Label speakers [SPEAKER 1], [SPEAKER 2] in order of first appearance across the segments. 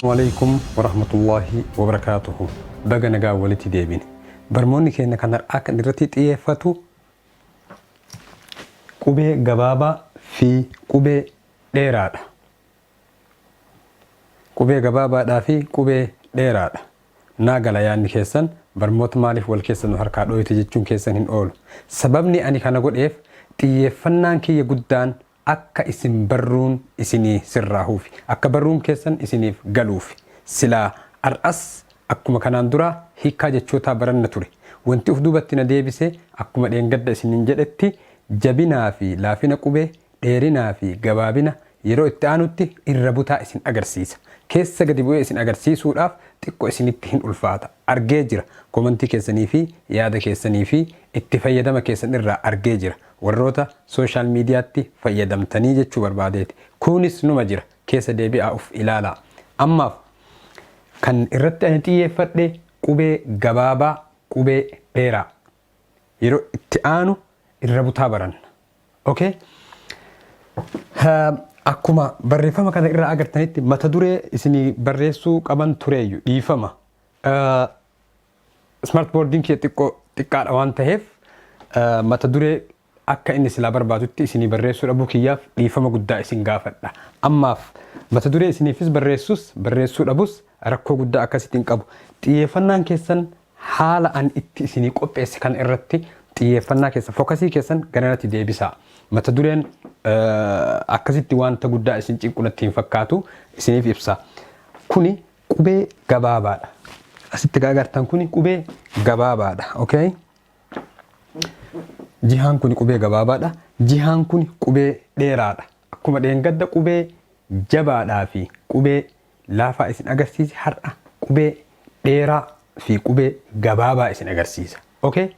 [SPEAKER 1] Waleeykum warahmatullaahi wabarakaatuhu baga nagaan walitti deebine barmoonni keenya kan har'aa kan irratti xiyeeffatu qubee gabaabaa fi qubee dheeraadha Qubee gabaabaadhaa fi qubee dheeraadha. Naa gala yaadni keessan, barmoota maaliif wal keessa nu harkaa dhooyte jechuun keessan hin oolu. Sababni ani kana godheef xiyyeeffannaan kiyya guddaan akka isin barruun isinii sirraahuufi. Akka barruun keessan isiniif galuufi. Silaa ar'as akkuma kanaan duraa hiikkaa jechootaa baranna ture. Wanti uf duubatti na deebise akkuma dheengadda isiniin jedhetti jabinaa fi laafina qubee dheerinaa fi gabaabina yeroo itti aanutti irra butaa isin agarsiisa. Keessa gadi bu'ee isin agarsiisuudhaaf xiqqo isinitti hin ulfaata. Argee jira. Komantii keessanii fi yaada keessanii fi itti fayyadama keessan irraa argee jira. Warroota social mediatti fayyadamtanii jechuu barbaadeeti. Kuunis numa jira. Keessa deebi'aa uf ilaalaa. Ammaaf kan irratti ani xiyyeeffadhe qubee gabaabaa, qubee dheeraa. yeroo itti aanu irra butaa baranna. Okay? Um, Akkuma barreeffama kana irraa agartanitti mata duree isinii barreessuu qaban tureeyyu dhiifama. Uh, Smart boardiin kiyya xiqqoo xiqqaadha waan ta'eef uh, mata duree akka inni silaa barbaadutti isinii barreessuu dhabuu kiyyaaf dhiifama guddaa isin gaafadha. Ammaaf, mata duree isiniifis barreessus barreessuu dhabus rakkoo guddaa akkasitti hin qabu. Xiyyeeffannaan keessan haala ani itti isinii qopheesse kana irratti xiyyeeffannaa keessan, fokasii keessan garanatti deebisaa. Mata dureen akkasitti wanta guddaa isin cinqu natti hin fakkaatu. Isiniif ibsa. Kuni qubee gabaabaadha. Asitti gaa agartan kuni qubee gabaabaadha. Okay? Jihaan kuni qubee gabaabaadha. Jihaan kuni qubee dheeraadha. Akkuma dheengadda qubee jabaadhaa fi qubee laafaa isin agarsiise har'a qubee dheeraa fi qubee gabaabaa isin agarsiisa. Okay?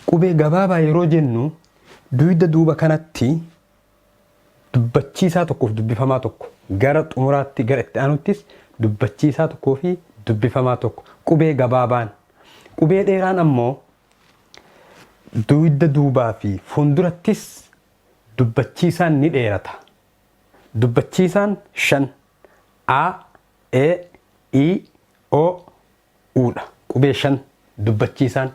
[SPEAKER 1] Qubee gabaabaa yeroo jennu duyda duuba kanatti Dubbachiisaa tokkoof dubbifamaa tokko Gara xumuraatti gara itti aanuttis dubbachiisaa tokkoo fi dubbifamaa tokko Qubee gabaabaan Qubee dheeraan ammoo duyda duubaa fi fuundurattis dubbachiisaan ni dheerata Dubbachiisaan shan A, E, I, O, u dha. Qubee 5, Dubbachiisaan,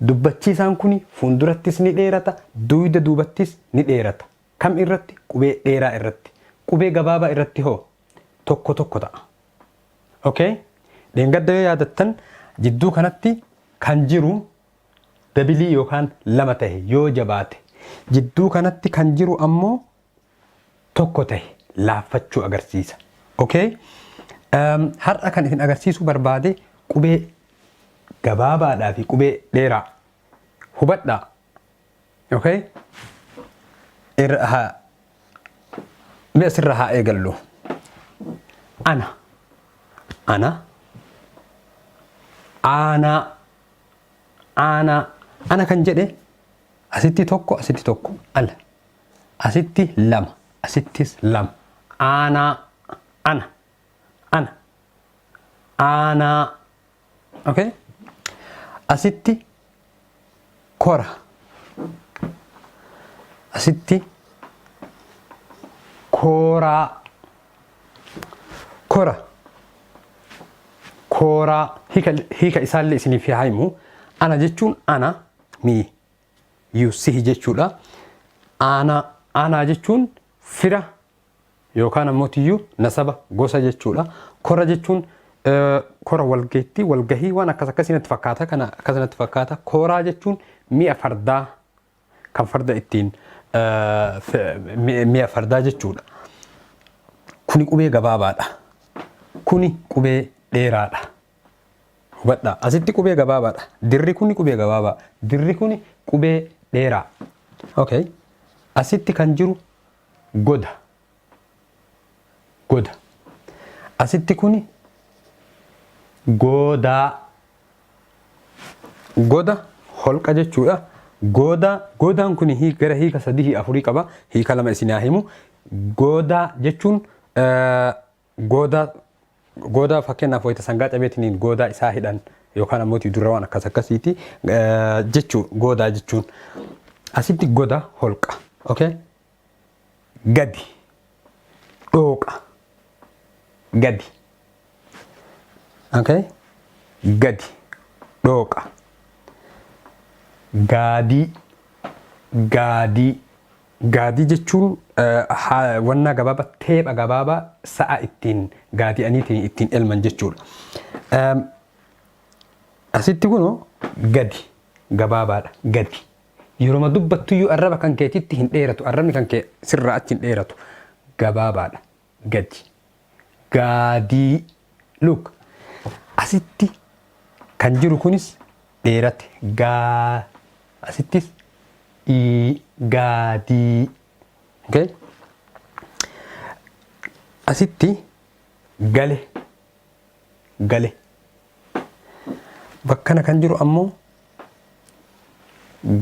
[SPEAKER 1] Dubbachiisaan kuni fuundurattis ni dheerata, duuyda duubattis ni dheerata. Kam irratti? Qubee dheeraa irratti. Qubee gabaabaa irratti hoo? Tokko tokko ta'a. Ok? Dheengadda yoo yaadattan jidduu kanatti kan jiru dabilii yookaan lama tahe yoo jabaate. Jidduu kanatti kan jiru ammoo tokko tahe laaffachuu agarsiisa. Okay? Um, har'a kan isin agarsiisuu barbaade qubee gabaabaadhaa fi qubee dheeraa hubadhaa. Okay? Irra haa mee asirra haa eegallu. Ana. Ana. Aanaa. Aanaa. Ana kan jedhe asitti tokko asitti tokko ala. Asitti lama, asittis lama. Aanaa, ana, ana. Aanaa. Okay? Asitti kora. Asitti kooraa. Kora. Kooraa. Hiika, hiika isaallee isiniif haa himu. Ana jechuun ana, me. yussihi jechuudha. Aanaa aanaa jechuun fira yookaan ammoo tiyyuu nasaba gosa jechuudha. Kora jechuun eh, kora walgeettii walgahii waan akkas akkasii natti fakkaata kana akkas natti fakkaata. Koraa jechuun mi'a fardaa kan farda ittiin eh, fe- mi- mi'a fardaa jechuudha. Kuni qubee gabaabaadha. Kuni qubee dheeraadha. Hubadhaa, asitti qubee gabaabaadha. Dirri kuni qubee gabaabaa. Dirri kuni qubee dheeraa. Okay. Asitti kan jiru goda. Goda. Asitti kuni goodaa. Goda holqa jechuudha. Goodaa, goodaan kuni hii- gara hiika sadii afurii qaba. Hiika lama isin haa himu. Goodaa jechuun eh, Goodaa goodaa fakkeenyaaf wayita sangaa cabeetiniin goodaa isaa hidhan yookaan ammoo durra waan akkas akkasiiti jechuu goodaa jechuun asitti goda holqa okay gadi dhooqa gadi okay gadi dhooqa gaadii gaadii Gaadii jechuun wannaa gabaaba teepha gabaaba sa'a ittiin gaadi'aniitiin ittiin elman jechuudha. Asitti kunoo gadi gabaabaadha gadi. Yeroma dubbattuyyuu arraba kan keetitti hin dheeratu arrabni kan kee sirraa achi hin dheeratu gabaabaadha. gadi gaadii look asitti kan jiru kunis dheerate gaa asittis ii gaadii okay? asitti gale gale bakkana kan jiru ammoo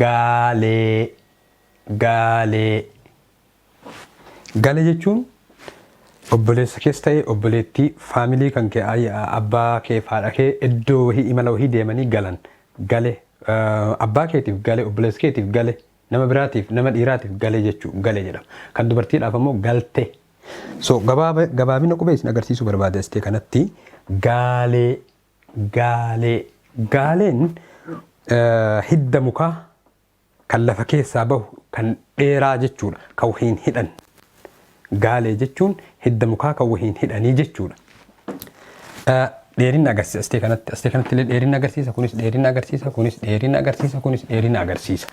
[SPEAKER 1] gaalee gaalee Gala jechuun obboleessa kees ta'ee obboleettii faamilii kan kee abbaa kee fi haadha kee iddoo wahii imala wahii deemanii galan gale abbaa keetiif gale obboleessa keetiif gale nama biraatiif nama dhiiraatiif gale jechuu gale jedhama. Kan dubartiidhaaf ammoo galte. So gabaaba gabaabina qubee isin agarsiisuu barbaada istee kanatti gaalee gaalee gaaleen eh, hidda mukaa Kan lafa keessaa bahu kan dheeraa jechuudha. Kan wahiin hidhan. Gaalee jechuun hidda mukaa kan wahiin hidhanii jechuudha. Dheerinna agarsiisa astee kanatti. Astee kanatti illee dheerinna agarsiisa. Kunis dheerinna agarsiisa. Kunis dheerinna agarsiisa. Kunis dheerinna agarsiisa.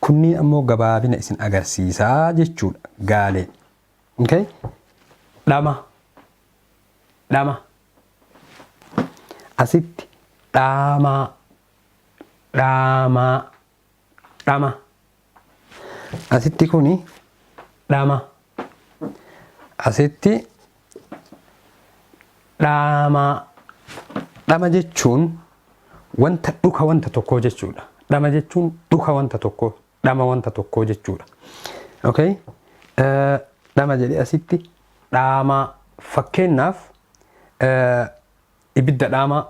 [SPEAKER 1] Kunniin ammoo gabaabina isin agarsiisaa jechuudha. Gaalee. Okay? Dhama. Dhama. Asitti dhaamaa. Dhaamaa. Dhama. Asitti kuni dhama. Asitti dhaamaa. Dhama jechuun wanta dhuka wanta tokkoo jechuudha. Dhama jechuun dhuka wanta tokkoo, dhama wanta tokkoo jechuudha. Okay? Eh, Dhama jedhee asitti dhaamaa. Fakkeenyaaf eh, Ibidda dhaamaa.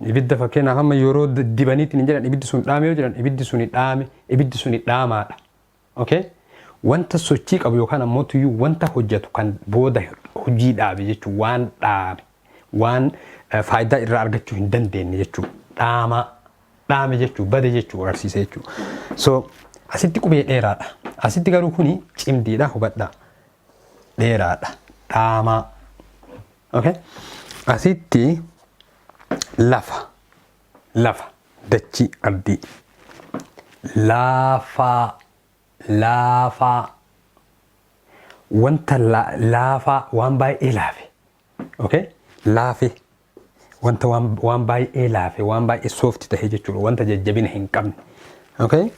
[SPEAKER 1] Ibidda fakkeenyaaf amma yeroo dibaniitti hin jedhan ibiddi sun dhaame yoo jedhan ibiddi suni dhaame, ibiddi suni dhaamaadha. Okay? Wanta sochii qabu yookaan ammoo tuyyuu wanta hojjetu kan booda hojii dhaabe jechuun waan dhaame, waan faayidaa irraa argachuu hin dandeenye jechuu dhaamaa dhaame jechuu bade jechuu agarsiisa jechuu. So asitti qubee dheeraadha. Asitti garuu kuni cimdiidha hubadhaa. dheeraadha dhaamaa okay? asitti lafa lafa dachii abdii laafaa laafaa wanta la- laafaa waan baay'ee laafe Okay? Laafe. Wanta waan, waan baay'ee laafe, waan baay'ee soofti ta'e jechuudha. Wanta jajjabina hin qabne. Okay?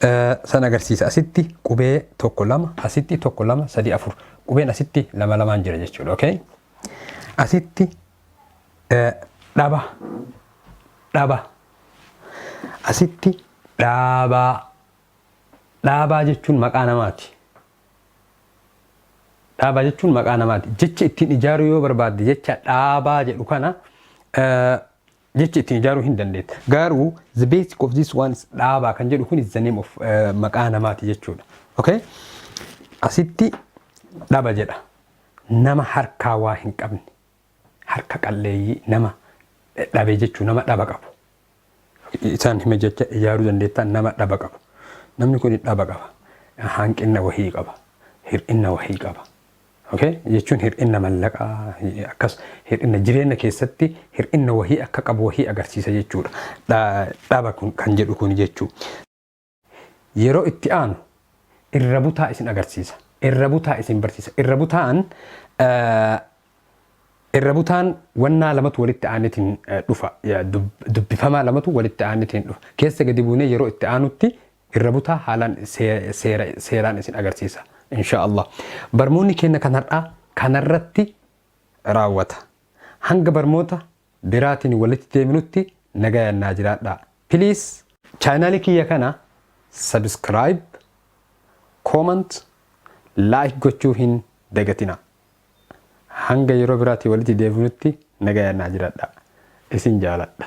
[SPEAKER 1] Eh, San agarsiisa. Asitti qubee tokko lama, asitti tokko lama, sadii afur. Qubeen asitti lama lamaan jira jechuudha. Okay? Asitti eh, dhaba, dhaba. Asitti dhaabaa. Dhaabaa jechuun maqaa namaati. Dhaabaa jechuun maqaa namaati. Jecha ittiin ijaaruu yoo barbaadde jecha dhaabaa jedhu kana jecha ittiin ijaaruu hin dandeetta. Garuu the basic of this one is dhaabaa kan jedhu kun is the name of maqaa namaati jechuudha. Okay? Asitti dhaba jedha. Nama harkaa waa hin qabne. harka qalleeyyii nama dhabe jechuun nama dhaba qabu. Isaan hime jecha ijaaruu dandeettaa nama dhaba qabu. Namni kun dhaba qaba. Hanqinna wahii qaba. Hir'inna wahii qaba. Okay? Jechuun hir'inna mallaqaa akkas hir'inna jireenya keessatti hir'inna wahii akka qabu wahii agarsiisa jechuudha. Dhaba kan jedhu kun jechuudha. Yeroo itti aanu irra butaa isin agarsiisa. Irra butaa isin barsiisa. Irra butaan irra butaan wannaa lamatu walitti aanetiin dhufa. Dubbifamaa lamatu walitti aanetiin dhufa. Keessa gadi buunee yeroo itti aanutti irra butaa haalaan seeraan isin agarsiisa. Inshaa Allah. Barmoonni keenya kan har'aa kanarratti raawwata. Hanga barmoota biraatin walitti deebinutti nagayaan naa jiraadhaa please. Channel kiyya kana subscribe, comment, like gochuu hin dagatina. Hanga yeroo biraatii walitti deebinutti nagayaan naa jiraadhaa. Isin jaaladha.